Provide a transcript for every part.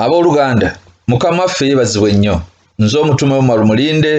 abooluganda mukama waffe yebazibwe nnyo nze omutume omar mulinde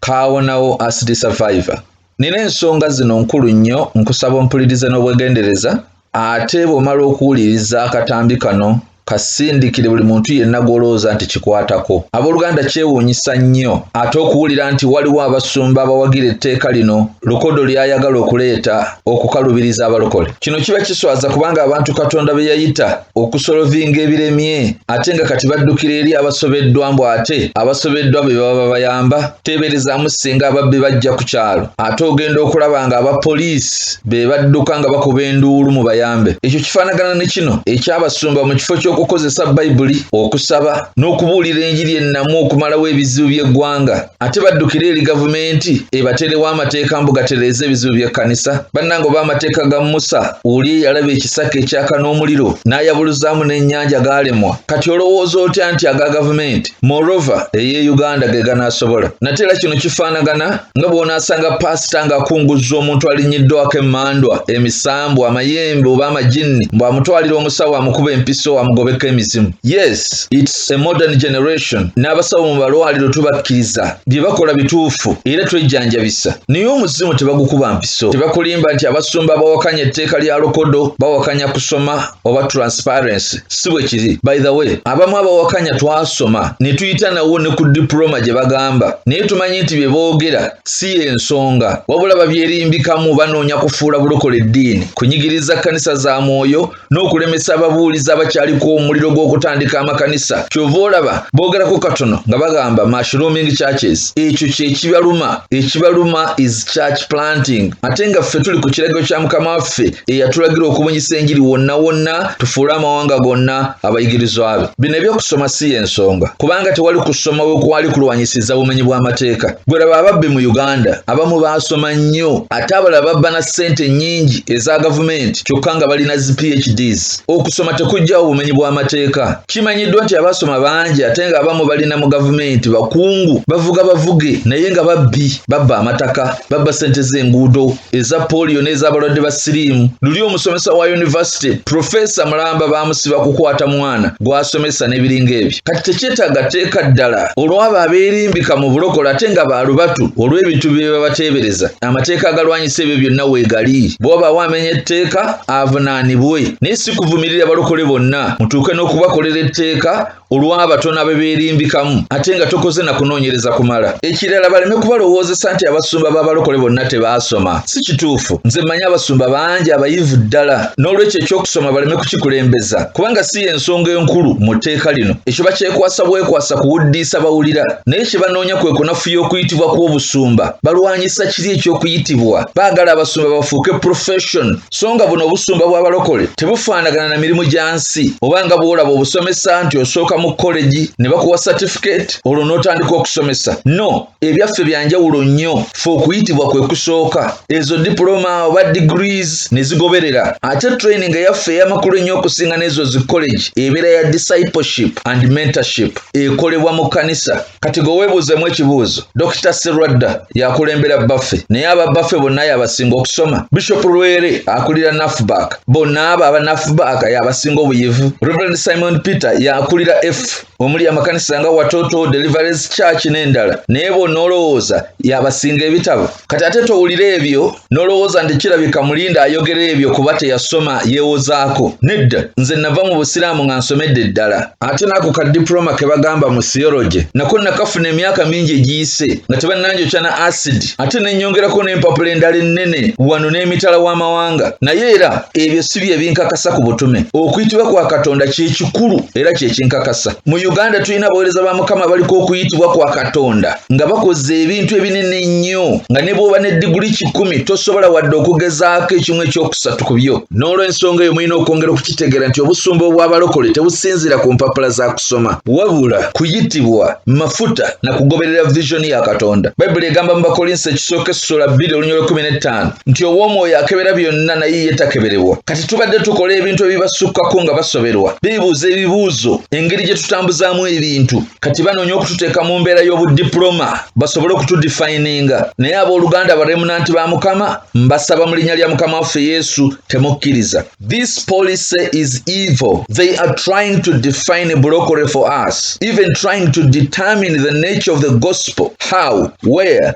kaawonawo asidi survivor nina ensonga zino nkulu nnyo nkusaba ompulirize n'obwegendereza ate bw'omala okuwuliriza akatambi kano kasindikire buli muntu yenna gw'olowooza nti kikwatako abooluganda kyewuunyisa nnyo ate okuwulira nti waliwo abasumba abawagira etteeka lino lukodo ly'ayagala okuleeta okukalubiriza abalokole kino kiba kiswaza kubanga abantu katonda be yayita okusolovinga ebiremye ate nga kati baddukira eri abasobeddwa mbu ate abasobeddwa be baba babayamba teeberezaamu singa ababbi bajja ku kyalo ate ogenda okulaba nga aba poliisi be badduka nga bakuba enduulu mu bayambe ekyo kifaanagana ne kino ekyabasumba mu kifo ky'okukozesa bayibuli okusaba n'okubuulira enjiri ennamu okumalawo ebizibu by'eggwanga ate baddukire eri gavumenti ebaterewo amateeka mbu gatereeza ebizibu by'ekkanisa bannange oba amateeka ga musa oli eyalaba ekisaka ekyaka n'omuliro n'ayabuluzaamu n'ennyanja gaalemwa kati olowooza otya nti aga gavumenti morova eye uganda ge ganaasobola nate era kino kifaanagana nga bw'onaasanga paasita ng'akunguzza omuntu alinnyiddwako emmandwa emisambu amayembe oba amajinni mbw'amutwalira omusawo amukuba empiso amugobeko emizimu yes it's a modern generation n'abasawo mu balwaliro tubakkiriza bye bakola bituufu era twejjanjabisa naye omuzimu tebagukuba mpiso tebakulimba nti abasumba bawakanya etteeka lya lokodo bawakanya kusoma oba transparency si bwe kiri by the way abamu abawakanya twasoma ne tuyita nawo ne ku diploma gye bagamba naye tumanyi nti bye boogera si y'ensonga wabula babyerimbikamu banoonya kufuula bulokole eddiini kunyigiriza kkanisa za mwoyo n'okulemesa ababuulizi abakyaliko omuliro gw'okutandika amakanisa kyova olaba boogerako katono nga bagamba mashrooming churches ekyo kyekibaluma ekibaluma is church planting ate nga ffe tuli ku kiragiro kya mukama waffe eyatulagira okubunyisa enjiri wonna wonna tufuule amawanga gonna abayigirizwa be bino ebyokusoma si y'ensonga kubanga tewali kusoma we kwali kulwanyisiza bumenyi bw'amateeka gwe laba ababbi mu uganda abamu baasoma nnyo ate abalala babba na ssente nnyingi eza gavumenti kyokka nga balina zi phds okusoma tekugjawo bumenyi bw'amateeka kimanyiddwa nti abasoma bangi ate nga abamu balina mu gavumenti bakungu bavuga bavuge naye nga babbi babba amataka babba sente z'enguudo eza poliyo n'ez'abalwadde ba siriimu luli omusomesa wa yunivasite profesa mulamba bamusiba kukwata mwana gw'asomesa n'ebiringa ebyo kati tekyetaaga teeka ddala olw'abo abeerimbika mu bulokole ate nga baalubatu olw'ebintu bye babateebereza amateeka agalwanyisa si ebyo byonna weegali bw'obaawo amenya etteeka avunaanibwe naye si kuvumirira balokole bonna mutuuke n'okubakolera etteeka olw'abatono abebeerimbikamu ate nga tokoze na kunoonyereza kumala ekirala baleme kubalowoozesa nti abasumba b'abalokole bonna tebaasoma si kituufu nze mmanyi abasumba bangi abayivu ddala n'olwekyo eky'okusoma baleme kukikulembeza kubanga si y'ensonga enkulu mu tteeka lino ekyo bakyekwasa bwekwasa kuwuddiisa bawulira naye kye banoonya kwe kunafuya okuyitibwa kw'obusumba balwanyisa kiri eky'okuyitibwa baagala abasumba bafuuke profession so nga buno obusumba bw'abalokole tebufaanagana na mirimu gya nsi oba nga bw'olaba obusomesa nti osooka mu kolegi ne bakuwa certificate olwo n'otandika okusomesa no ebyaffe bya njawulo nnyo fe okuyitibwa kwe kusooka ezo dipuloma oba degrees ne zigoberera ate training eyaffe ey'amakulu ennyo okusinga n'ezo zi college ebeera ya discipleship and mentorship ekolebwa mu kkanisa kati gwe weebuuzemu ekibuuzo dokita serwadda yakulembera bbaffe naye aba bbaffe bonna yabasinga okusoma bishop lwere akulira nafbak bonna abo aba nafbak yabasinga obuyivu reverend simon peter yakulira f omuli amakanisa nga watoto deliverance church n'endala naye bonna olowooza yabasinga ebitabo kati ate towulira ebyo nolowooza nti kirabika mulinda ayogera ebyo kuba teyasoma yewozaako nedda nze nava mu busiraamu nga nsomedde ddala ate naako ka diploma ke bagamba mu theology nako nakafuna emyaka mingi egiyise nga tebannanjokya na acid ate nenyongerako n'empapula endala ennene wano n'emitala w'amawanga naye era ebyo si bye binkakasa ku butume okuyitibwa kwa katonda kyekikulu era kyekinkakasa mu uganda tulina abaweereza ba mukama baliko okuyitibwa kwa katonda nga bakoze ebintu ebinene ennyo nga ne bw'oba ne diguli kikumi tosobola wadde okugezaako ekimu ekyokusatu ku byo n'olw'ensonga eyo mulina okwongera okukitegeera nti obusumba obw'abalokole tebusinziira ku mpapula za kusoma wabula kuyitibwa mafuta na kugoberera visioni ya katonda bayibuli egamba mu bakolinsi ekisooka essula bbiri olunya olwekumi n'ettaano nti ow'omwoyo akebera byonna naye ye takeberebwa kati tubadde tukola ebintu ebibasukkako nga basoberwa beebuuza ebibuuzo engeri gye tutambuzaamu ebintu kati banoonya okututeeka mu mbeera y'obudiploma basobole okutudifininga naye abooluganda abaremunanti ba mukama mbasaba mu linnya lya mukama waffe yesu temukkiriza this policy is evil they are trying to define brocory for us even trying to determine the nature of the gospel how where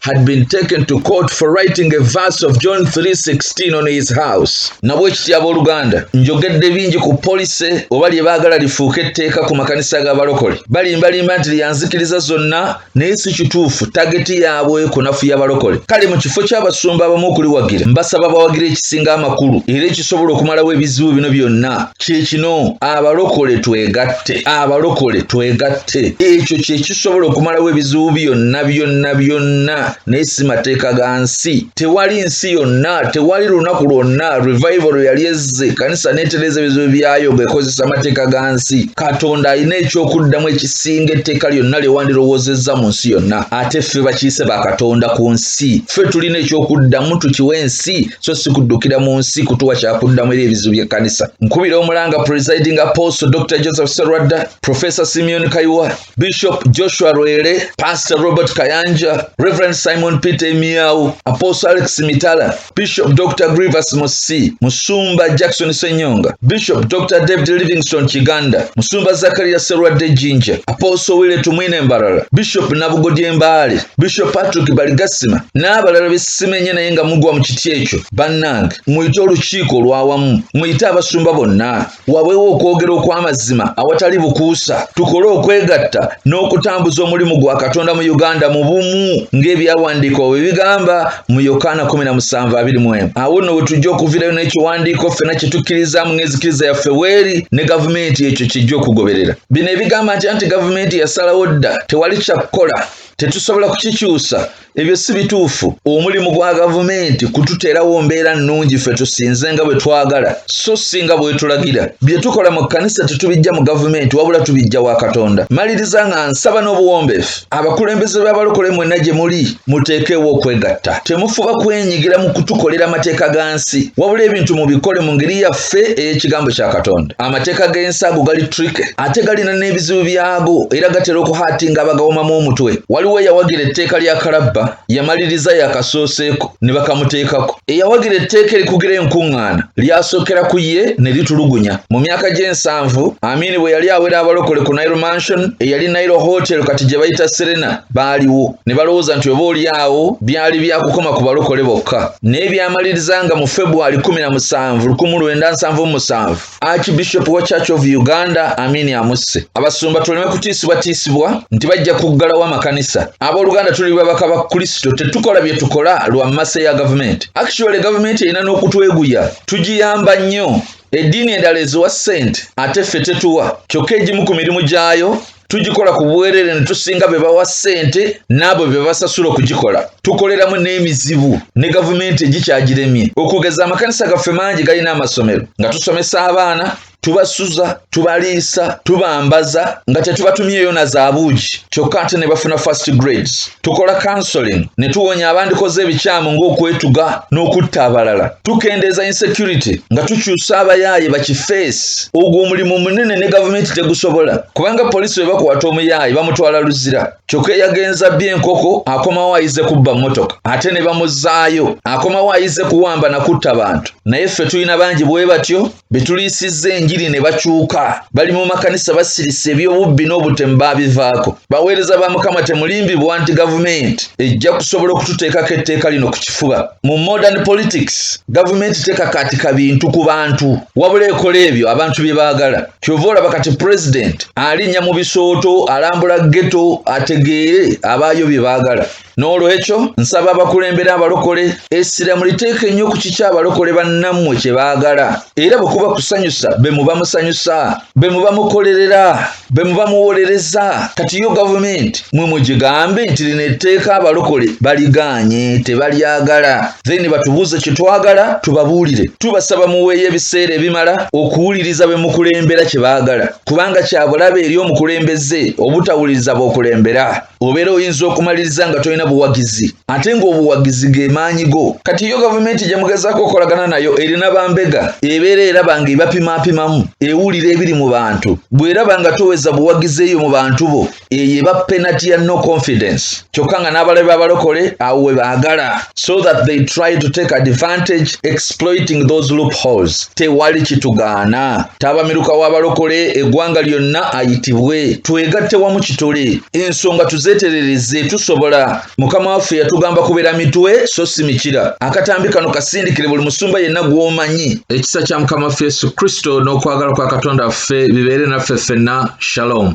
had been taken to court for writing a verse of John 3:16 on his house nabwe kitya abooluganda njogedde bingi ku polisi oba lye baagala lifuuke etteeka ku makanisa g'abalokole balimbalimba nti lyanzikiriza zonna naye si kituufu tageti yaabwe kunafuya balokole kale mu kifo ky'abasumba abamu okuliwagira mbasaba bawagira ekisinga amakulu era ekisobola okumalawo ebizibu bino byonna kye kino abalokole twegatte abalokole twegatte ate ekyo kye kisobola okumalawo ebizibu byonna byonna byonna naye si mateeka ga nsi tewali nsi yonna tewali lunaku lwonna revival lwe yali ezze ekanisa neetereeza ebizibu byayo ng'ekozesa amateeka ga nsi katonda alina eky'okuddamu ekisinga etteeka lyonna lye wandirowoozezza mu nsi yonna ate ffe bakiyise ba katonda ku nsi ffe tulina eky'okuddamu tukiwa ensi so si kuddukira mu nsi kutuwa kyakuddamu eri ebizibu by'ekkanisa nkubira omulanga presiding apostle dr joseph serwadda Professor Simeon Kaiwa, Bishop Joshua Rwele, Pastor Robert Kayanja, Reverend Simon Peter Miau, Apostle Alex Mitala, Bishop Dr. Grievous Musi, Musumba Jackson Senyonga, Bishop Dr. David Livingston Kiganda, Musumba Zakaria Serwadde Jinja, Apostle Wile Tumwine Mbarara, Bishop Nabugodye Mbaale, Bishop Patrick Baligasima n'abalala be simenye naye nga mugwa mu kiti ekyo. Bannange, muyite olukiiko olwawamu, muyite abasumba bonna. wabeewo okwogera okw'amazima awatali bukuusa tukole okwegatta n'okutambuza omulimu gwa katonda mu uganda mu bumu ng'ebyawandiikwa bwe bigamba mu yokaana 1721 awo nno we tujja okuvirayo n'ekiwandiiko ffena kye tukkirizaamu ng'ezikiriza yaffe weeri ne gavumenti ekyo kijja okugoberera bino ebigamba nti anti gavumenti yasalawo dda tewali kya kukola tetusobola kukikyusa ebyo si bituufu omulimu gwa gavumenti kututeerawo mbeera nnungi ffe tusinze nga bwe twagala so si nga bwetulagira bye tukola mu kkanisa tetubijja mu gavumenti wabula tubijja wa katonda maliriza nga nsaba n'obuwombeefu abakulembeze b'abalokole mwenna gye muli muteekeewo okwegatta temufuba kwenyigira mu kutukolera amateeka ga nsi wabula ebintu mubikole mu ngeri ya ffe ey'ekigambo kya katonda amateeka g'ensago gali trike ate galina n'ebizibu byago era gatera okuhaatinga abagawomamu omutwe waliwo eyawagira etteeka lya kalabba yamaliriza yakasooseeko ne bakamuteekako eyawagira etteeka erikugira enkuŋŋaana lyasookera ku ye ne litulugunya mu myaka gy'ensanvu amiini bwe yali awera abalokole ku nairo mansion eyali nairo hotel kati gye bayita serena baaliwo ne balowooza nti oba oli awo byali byakukoma ku balokole bokka naye byamaliriza nga mu februari 1717 archbishop wa church of uganda amini amusse abasumba tuleme kutiisibwatiisibwa nti bajja kuggalawo amakanisa abooluganda tuli babaka ba kristo tetukola bye tukola lwa mase ya gavumenti actually gavumenti erina n'okutweguya tugiyamba nnyo eddiini endala eziwa ssente ate ffe tetuwa kyokka egimu ku mirimu gyayo tugikola ku bwerere ne tusinga be bawa ssente n'abo be basasula okugikola tukoleramu n'emizibu ne gavumenti egikyagiremye okugeza amakanisa gaffe mangi galina amasomero nga tusomesa abaana tubasuza tubaliisa tubambaza nga tetubatumyeyo na zaabuugi kyokka ate ne bafuna first grades tukola counseling ne tuwonya abandikoze ebikyamu ng'okwetuga n'okutta abalala tukendeeza insecurity nga tukyusa abayaaye bakifeesi ogwo omulimu munene ne gavumenti tegusobola kubanga poliisi bwe bakwata omuyaaye bamutwala luzira kyokka eyagenza bby enkoko akomawo ayize kubba mmotoka ate ne bamuzaayo akomawo ayize kuwamba na kutta bantu naye ffe tulina bangi bwe batyo betuliisizza enjiri ne bakyuka bali mu makanisa basirise ebyobubbi n'obutemu baabivaako baweereza ba mukama temulimbibwa nti gavumenti ejja kusobola okututeekako etteeka lino ku kifuba mu modern politics gavumenti tekakaatika bintu ku bantu wabula ekola ebyo abantu bye baagala kyova olaba kati pulezidenti alinnya mu bisooto alambula geto ategeere abaayo bye baagala n'olwekyo nsaba abakulembera abalokole essira muliteeka ennyo ku kiki abalokole bannammwe kye baagala era bwe kuba kusanyusa be muba musanyusa be muba mukolerera be muba muwolereza kati yo gavumenti mwe mugigambe nti lino etteeka abalokole baligaanye tebalyagala then batubuuze kye twagala tubabuulire tubasaba muweeyo ebiseera ebimala okuwuliriza be mukulembera kye baagala kubanga kyabulabe eri omukulembeze obutawuliriza b'okulembera obeera oyinza okumaliriza nga tolina buwagizi ate ng'obuwagizi ge maanyi go kati yo gavumenti gye mugezaako okukolagana nayo erina bambega ebeera eraba nga ebapimaapimamu ewulira ebiri mu bantu bw'eraba nga toweza buwagizi eyo mu bantu bo eyo eba penati ya no confidence kyokka nga n'abalabe b'abalokole awo we baagala so that they try to take advantage exploiting those loopholes tewali kitugaana taabamiruka w'abalokole eggwanga lyonna ayitibwe twegatte wamu kitole ensonga tuzeeterereze tusobola mukama waffe yatugamba kubeera mitwe so si mikira akatambi kano kasindikire buli musumba yenna gw'omanyi ekisa kya mukama waffe yesu kristo n'okwagala kwa katonda waffe bibeere naffe ffenna shalom